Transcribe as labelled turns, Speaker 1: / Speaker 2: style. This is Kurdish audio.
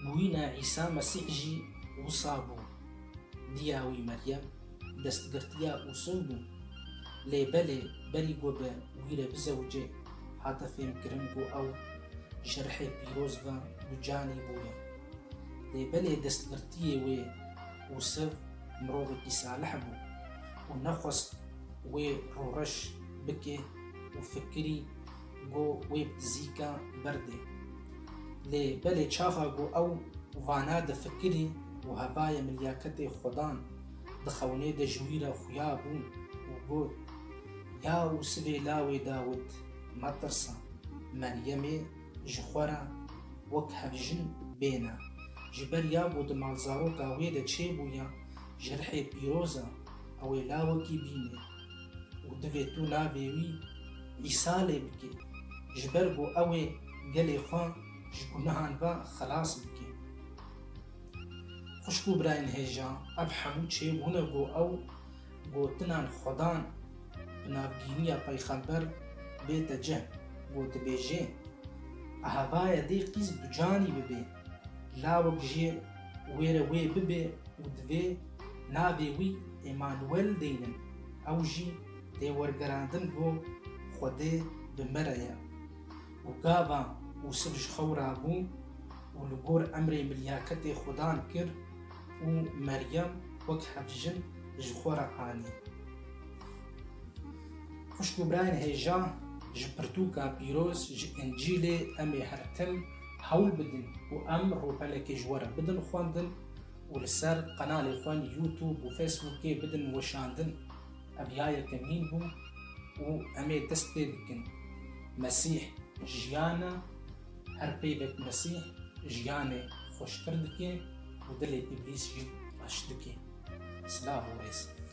Speaker 1: Bûyîna Îsa Mesîh jî wisa bû. Diya wî Meryem destgirtiya Ûsûn bû. Lê belê berî ku bi wî re bizewicê hate fêmkirin ku ew ji rihê pîroz ve ducanî bûye. Lê belê destgirtiyê wê Ûsiv mirovekî salih bû û nexwest wê rûreş bike û fikirî ku wê bi dizîka berdê. Lê belê çaxa ku ew vana difikirî û hevayê min liyaketê Xwedan di xewnê de ji wî re xuya bû û got, Ya û sivê lawê Dawid, metirsa. Meryemê ji xwe re wek hevjin bêne. Ji ber ya ku di malzaroka wê de çêbûye, ji rihê pîroz e, ew ê lawekî bînê. Û divê tu navê wî îsalê bikê, ji ber ku ew ê gelê xwe ji gunehan ve xilas bike. Xwişk û birayên hêja, ev hemû çê bûne ku ew gotinan xwe dan bi navgîniya peyxember bête cih ku dibêjê, Eha vaye dê qîz bi canî bibê. Lawik jî wêre wê bibe û divê navê wî Emanuel deynin. Ew jî tê wergerandin ku Xwedê bi me re ye û gava Ûsif ji xew rabû û li gor emrê milyaketê Xwedan kir û Meryem wek hevjin ji xwe re anî. Xwişk û birayên hêja ji pirtûka pîroz ji Încîlê em ê her tim Hewl bidin ku em rûpelekê ji we re bidin xwendin û li ser qenalê xwe li YouTube û Facebookê bidin weşandin. Ev ya yekemîn bû û em ê dest pê bikin. Mesîh jiyan e, her peyvek Mesîh jiyanê xweştir dike û dilê îblîs jî reş dike. Silav û rêz.